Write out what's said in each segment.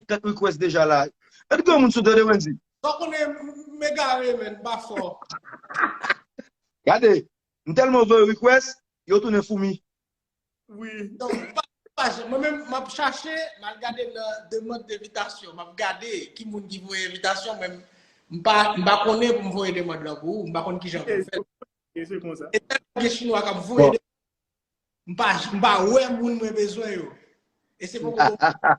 Kèk request deja la. Èd gen yon moun sou tande Wendy? Sa w konnen m egare menn m pa fò. Gade, m tèlman voye request, yo tounen foumi. Wi. Mwen menm m ap chache, m al gade nan demand devitasyon, m ap gade ki moun ki voye envitasyon men m pa konnen pou m voye demand lan pou ou, m pa konn kijan pou m fè. Ok, se konsa. E tèlman gen chinwa k ap voye demand, m pa wè moun mwen bezwen yo. E se poko pou m.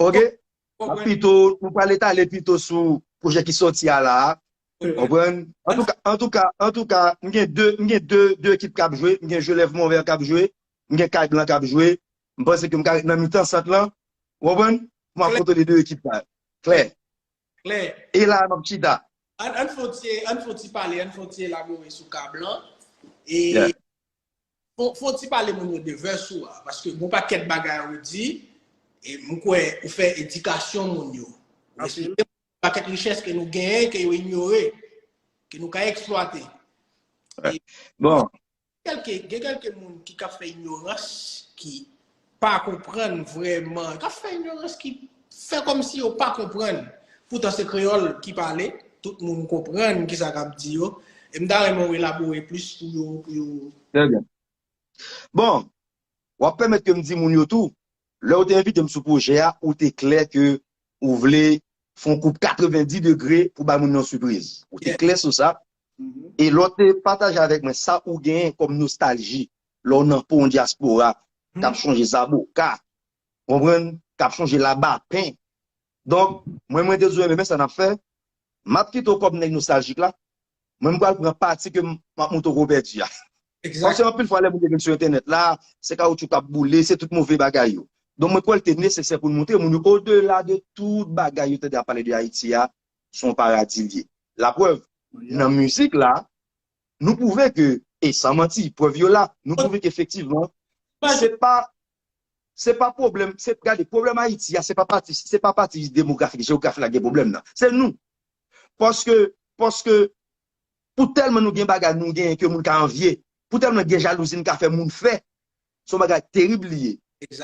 Ok, pito ou pa leta le pito sou pwojè ki soti a la a. Konprann? An tou ka, an tou ka, an tou ka, m gen 2, m gen 2, 2 ekip k ap jwe, m gen Jolèv Monvè k ap jwe, m gen Kay Blan k ap jwe, m panse ke m ka ret nan mitan sant lan, ou konprann, pou m ap kontwole 2 ekip sa yo. Klè? Klè. E la a m ap chita. An fon ti, an fon ti pale, an fon ti elabore sou Kay Blan. E Fon ti pale moun yo de verse ou a paske gon pakèt bagay ou di e m kwè ou fè edikasyon moun yo ou esplike moun yo pakèt richès ke nou genyen ke yo inyore ke nou ka eksplwate bon gen kèlke moun ki ka fè inyorans ki pa konprann vrèman, k ap fè inyorans, ki fè kòmsi yo pa konprann, poutan se kreyòl ki pale, tout moun konprann ki sa k ap di yo. E m ta renmen ou elabore plis pou yo, pou yo. Trè byen. Bon, w ap pèmèt ke m di moun yo tou, lè ou te envite m sou pwojè a, ou te klè ke ou vle fè yon koub 90 degre pou bay moun nan yon sipriz. Ou te klè sou sa. E lè w te pataje avèk mwen sa ou genyen kòm nostalji lè w nan po yon dyaspora k ap chonje zaboka, ou konprann, k ap chonje labapen. Donk, mwen mwen te di w enben men sa n ap fè, m ap kite w kòm nèg nostaljik la, mwen m pral pran pati ke m ap montre w ke w pèdi a. Paske anpil fwa lè moun yo vin sou entènèt la, se kawoutchou k ap boule, se tout move bagay yo. Donk mwen kwè l te nesesè pou n montre moun yo odela de tout bagay yo tande ap pale de Ayiti a, se yon paradi l ye. Laprèv, nan mizik la, nou pwouve ke, e san manti, prèv yo la, nou pwouve ke efektivman, se pa, se pa pwoblèm, se, gade, pwoblèm Ayiti a, se pa pati, se pa pati demografik, jeografik la ki gen pwoblèm nan. Se nou. Paske, paske, pou tèlman nou gen bagay nou genyen ke moun ka anvye, pou tèlman gen jalouzi nou ka fè moun fè, se yon bagay terib li ye.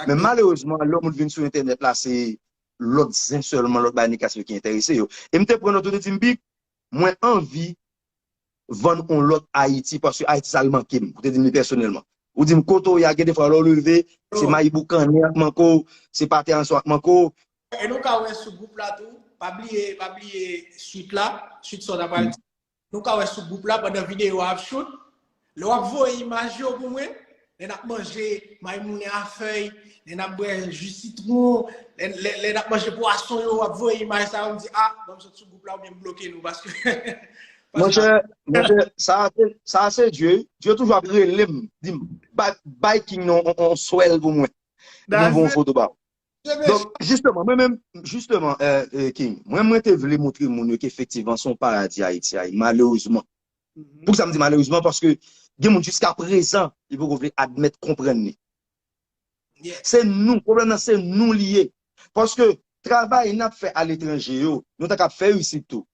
Men malerezman, lè yon moun vin sou entènèt la, se lòt zen sèlman, lòt bagay negatif ki enterese yo. E m te pran nòt, yo te di m, Bic, Mwen anvi vann on lòt Ayiti paske Ayiti sa l manke m. Ou te di m li pèsonèlman. Ou di m kote w ye a gen defwa lè w leve, se mayi boukannen y ap manke w, se pate anson y ap manke w. E nou ka wè sou gwoup la tou, pa bliye, pa bliye swit la, swit sa w ta pral di. Nou ka wè sou gwoup la pandan videyo a ap choute, Lè wap voye imaj yo pou mwen, lè nap manje maymoune a fèy, lè nap bwè ju sitron, lè nap manje pwason yo, wap voye imaj sa yo, m di ah banm sot sou gwoup la oubyen m bloke nou paske Monchè, monchè, sa a se, sa a se Dye wi, Dye toujou ap rele m, di m, bay King nan yon swèl pou mwen, mwen voye yon foto ba ou. Donk, jisteman, mwen menm, jisteman, King, mwen mwen te vle montre moun yo ke efektivman se yon paradi Ayiti a ye, malerezman. Pou sa m di malerezman paske gen moun jiska prezan li poko vle admèt konprann li. Se nou, pwoblèm nan se nou li ye. Paske travay n ap fè aletranje yo, nou ta kab fè isit tou.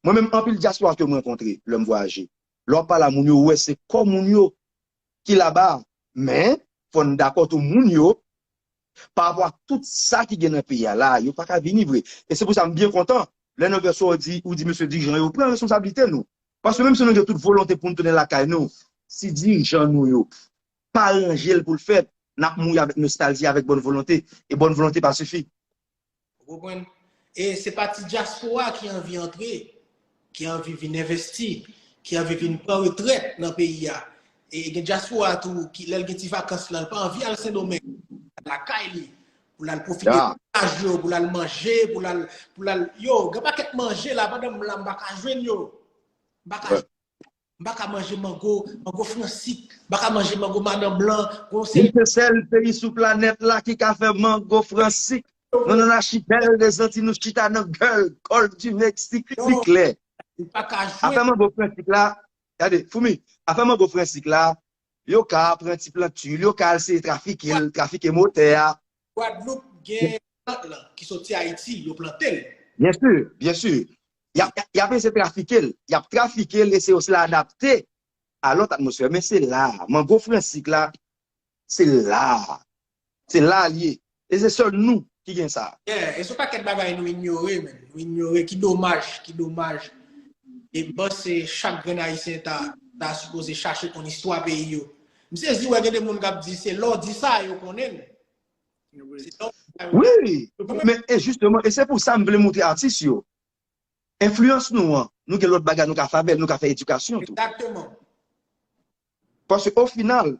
Mwen menm anpil dyaspora ke m rankontre lè m vwayaje, lè w ap pale a moun yo, ou wè se kò moun yo ki laba a. Men, fò n dakò tou moun yo Par rapport ak tout sa ki gen nan peyi a la a, yo pa ka vini vre. E se pou sa m byen kontan lè nan vèsyon ou di, ou di mesye dirijan yo pran responsablite nou. Paske menm si nou gen tout volonte pou nou tounen lakay nou, si dirijan nou yo pa ranje l pou l fèt, n ap mouri avèk nostalji, avèk bòn volonte. E bòn volonte pa sifi. Ou konprann? E se pa ti dyaspora ki anvi antre, ki anvi vin envesti, ki anvi vin pran retrèt nan peyi a. E gen dyaspora tou ki lè l gen ti vakans lan, l pa anvi al Sendomeng, lakay li, pou l al pwofite de plaj yo, pou l al manje, pou l al, pou l al, yo, gen pakèt manje la, pandan m la m pa ka jwenn yo. M pa ka jwenn. M pa ka manje mango, mango fransik, m pa ka manje mango madan blan, gen yon seri. Nou se sèl peyi sou planèt la ki ka fè mango fransik. Nou nan lachipèl de zanti nou chita nan gòl, gòlf di Meksik, pi klè. Ou pa ka jwe. Afè mango fransik la, gade, foumi, afè mango fransik la, Yo ka pran ti plant tu l, yo ka al eseye trafike l, trafike motè a. Gwadloup gen plant lan ki soti Ayiti, yo plante l. Byen si, byen si. Y ap eseye trafike l, y ap trafike l e se yo se l adapte a lòt atmosfè. Men se la a, mango fransik la, se la a. Se la li ye. E se sèl nou ki gen sa. Yeah, e son pakèt bagay nou inyore menn, nou inyore, ki domaj, ki domaj. E m panse chak grenn Ayisyen ta ta sipoze chache konn istwa peyi yo. M sezi wè gen de moun k ap di se lè w di sa yo konnen l. Wi, men e jisteman, e se pou sa m vle montre atis yo. Enfliyans nou an, nou gen lòt bagay nou ka fè avè l, nou ka fè edikasyon tou. Egzakteman. Paske o final,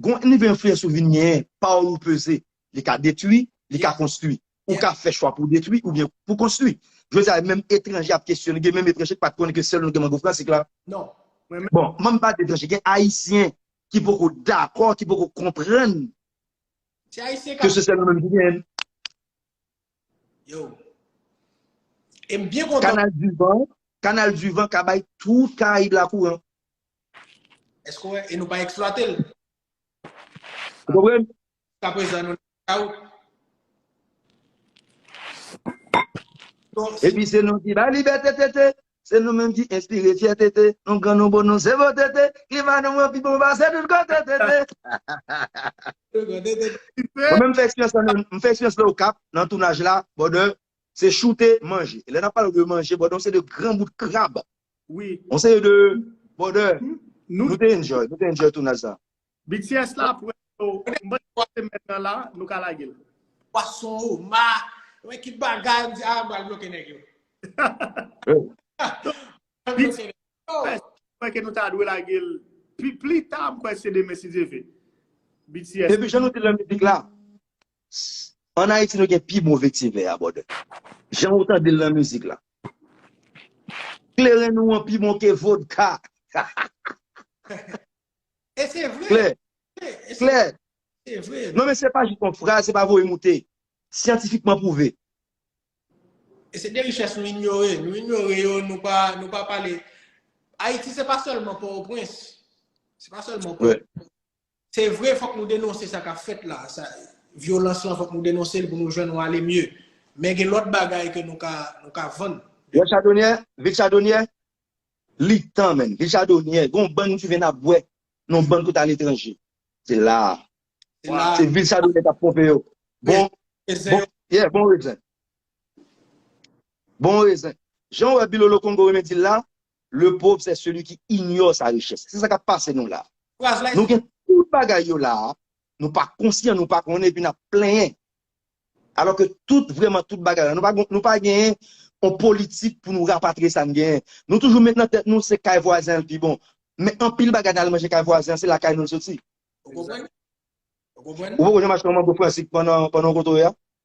gon nivo enfliyans ou vin genyen, pawòl ou peze. Li ka detwi, li ka konstwi. Ou ka fè chwa pou w detwi oubyen pou w konstwi. Jodi a, menm etranje ap kesyone, gen menm etranje ki pa t konnen ke sèl nou gen mango fransik la. Bon, m ap pale de etranje, gen Ayisyen ki poko dakò, ki poko konprann ke se sèl nou menm ki genyen l. Kanal du vent ka bay tout Karayib la kouran. Eske ou wè, e nou pa eksplwate l. Ou konprann? Jiska prezan nou nan eta ou. Epi se nou ki bay libète tete, se nou menm ki enspire fyète te, nou gran nou bon nou se bon tete, klima nou an pi bon pase tout kote tete. Mwen menm m fè eksperyans lan, m fè eksperyans lan Okap nan tounaj la, bòdè Se choute, manje. Lè nap pale de manje bòdè yon seri de gran bout krab. Wi. Yon seri de bòdè. Nou te enjoy, nou te enjoy tounaj sa. BTS la pou yo. M panse se nan semèn nan la nou ka lage l. Pwason, oma, wè ki bagay m di a m pral bloke nèg yo. BTS mwen ke nou ta dwe lage l pi plita m kwè se demen si Dye ve. BTS. Epi jan nou di lè mizik la. An Ayiti nou gen pi bon vetivè a bòdè. Jan ou tande l nan mizik la. Kleren nou an pi bon ke vodka. E se vre. Klè. Klè. Se vre. Non men se pa jis yon fraz, se pa voye moute. Syantifikman pwouve. E se de richès nou inyore. Nou inyore yo, nou pa pale. Ayiti se pa sèlman Pòtoprens. Se pa sèlman Pòtoprens. Se vre fòk nou denonse sa kap fèt la, vyolans lan fòk nou denonse l pou nou jwenn yon ale mye. Men gen lòt bagay ke nou ka vann. Yon chadonyè, vil chadonyè, li tan menn. Vil chadonyè, gen yon bann ki vin ap bwè nan yon bann kote aletranje. Se la a. Se vil chadonyè kap ponpe yo. Bon rezen. Yeah, bon rezen. Bon rezen. Jan ou wè Bilolo Kongo renmen di l la, Le pauvre c'est celui qui ignore sa richesse. Se sa kap pase nou la. Nou gen tout bagay yo la, nou pa konsyan, nou pa konnen epi nap plenyen. Alò ke tout vreman tout bagay la, nou pa genyen yon politik pou nou rapatriye sa n genyen. Nou toujou met nan tèt nou se kay vwazen an l pi bon. Men anpil bagay nal manje kay vwazen an se lakay nou l soti. Ou konprann? Ou poko janm achte yon mango fransik pandan w kotoye a?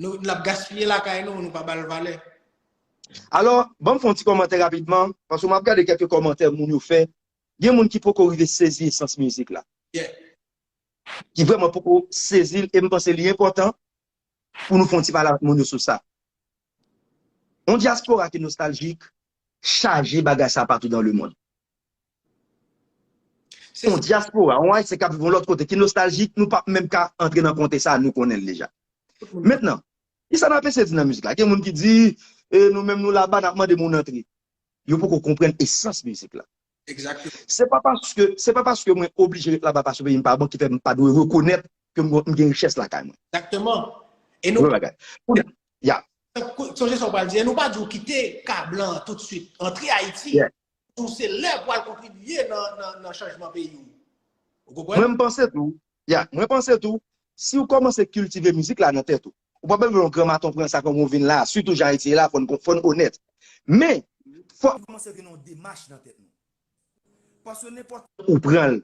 Nou lap gaspiye lakay nou, nou pa ba l valè. Alò, ban m fè yon ti kòmantè rapidman, paske m ap gade kèlke kòmantè moun yo fè. Gen moun ki poko rive sezi esans mizik la. Yeah. Ki vrèman poko sezi l e m panse li enpòtan pou nou fè yon ti pale avèk moun yo sou sa. Yon dyaspora ki nostaljik chaje bagay sa patou dan lemond. Se yon dyaspora, yon Ayisyen k ap viv yon lòt kote ki nostaljik, nou pap menm ka antre nan konte sa, nou konnen l deja. Mentnan, ki sa n ap eseye di nan mizik la? Gen moun ki di, e nou menm nou laba n ap mande moun antre. Yo poko konprann esans mizik la. Se pa paske, se pa paske mwen oblije ret laba paske peyi m pa bon ki fè m pa dwe rekonèt ke m gen richès lakay mwen. Se yon bagay. Kounye a, ya. Sonje sa w pral di, e nou pa di w kite ka blan an toutsuit, antre Ayiti. Ou se lè pou al kontribiye nan chanjman peyi ou. Ou konprann? Mwen panse tou, yeah, mwen panse tou, si ou kòmanse kiltive mizik la nan tèt ou, ou pap bezwen yon gran maton pran sa kòman ou vin la a, sitou jan Ayiti ye la a, fò n onèt. Men, fò. Li kòmanse vin yon demach nan tèt nou. Paske nenpòt. Ou pran l.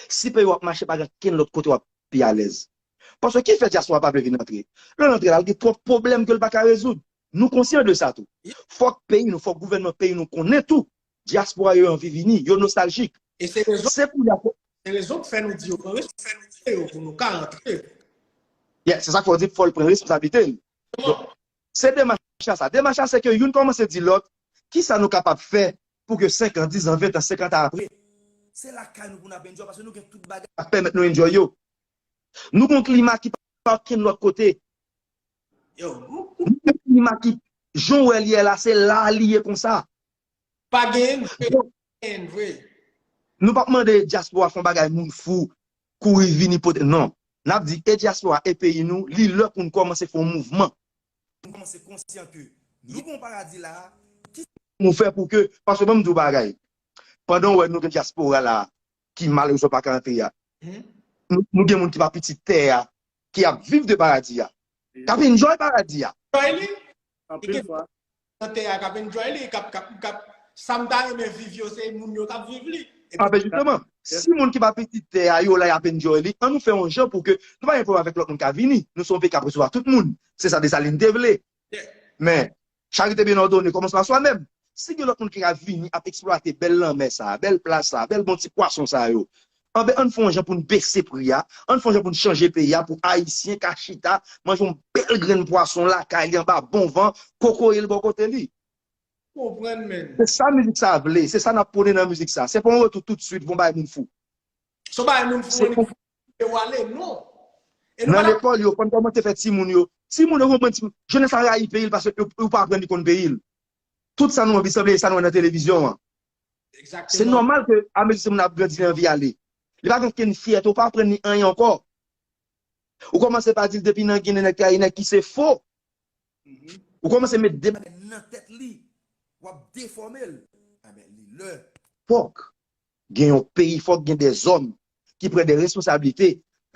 Si peyi w ap mache, pa gen kenn lòt kote w ap pi alèz. Paske ki fè dyaspora pa vle vin antre? Lè l antre la, l gen twòp pwoblèm ke l pa ka rezoud. Nou konsyan de sa tou. Fòk peyi nou, fòk gouvènman peyi nou konnen tou, dyaspora yo anvi vini, yo nostaljik. Se pou y ap. Se rezon k fè nou di yo pran responsablite yo pou nou ka antre. Yes, se sa k fè w di fò l pran responsablite l. Bon, se demach la sa. Demach la se ke youn kòmanse di lòt, ki sa nou kapab fè pou ke 5 an, 10 an, 20 an, 50 an apre, se lakay nou pou n ap enjoy paske nou gen tout bagay k ap pèmèt nou enjoy yo. Nou gen yon klima ki pa gen lòt kote. Jan ou wè l ye la, se la a li ye konsa. Pa gen yon ki pa gen vre. Nou pa p mande dyaspora fè yon bagay moun fou kouri vini pote non. N ap di e dyaspora e peyi nou, li lè pou nou kòmanse fè yon mouvman. Pou nou kòmanse konsyan ke nou gen yon paradi la a, ki sa pou nou fè pou ke, paske ban m di w yon bagay, pandan w wè nou gen dyaspora la a, ki malerezman pa ka antre a. Nou gen moun ki pa pitit tè a, ki ap viv de paradi a. K ap enjoy paradi a. Anpil fwa. E gen moun nan tè a k ap enjoy li, k ap, sa m ta renmen viv yo, se moun yo k ap viv li. A ben jisteman, si moun ki pa pitit tè a yo la y ap enjoy li, an nou fè yon jan pou ke, nou pa gen pwoblèm avèk lòt moun ka vini. Nou se yon peyi k ap resevwa tout moun. Se sa Desalin te vle. Men, Charite byen òdone kòmanse pa swa menm. Si gen lòt moun ki ka vini ap eksplwate bèl lanmè sa a, bèl plaj sa a, bèl bon ti pwason sa yo, anben ann fè yon jan pou n bese pri a, ann fè yon jan pou n chanje peyi a pou Ayisyen ka chita manje yon bèl grenn pwason lakay li anba bon van, kokoye l bò kote li. Konprann menn. Se sa mizik sa a vle, se sa n ap pwone nan mizik sa a. Se pa yon retou toutsuit voun bagay moun fou. Son bagay moun fou an li ou ale non. Nan lekòl yo konn kòmanse fè timoun yo. Timoun yo konprann timoun. Jenès la rayi peyi l paske yo pa aprann li konn peyi l. Tout sa nou anvi sanble sa nou wè nan televizyon an. Se nòmal ke amezi timoun nan ap grandi li anvi ale. Li pa gen okenn fyète ou pa aprann li anyen ankò. Ou kòmanse pa di l depi nan Ginen nèg trayi nèg ki se fo. Ou kòmanse met de bagay nan tèt li. Wap defòme l. Li lè. Fòk. Gen yon peyi fok gen de zom ki pran de responsabilite.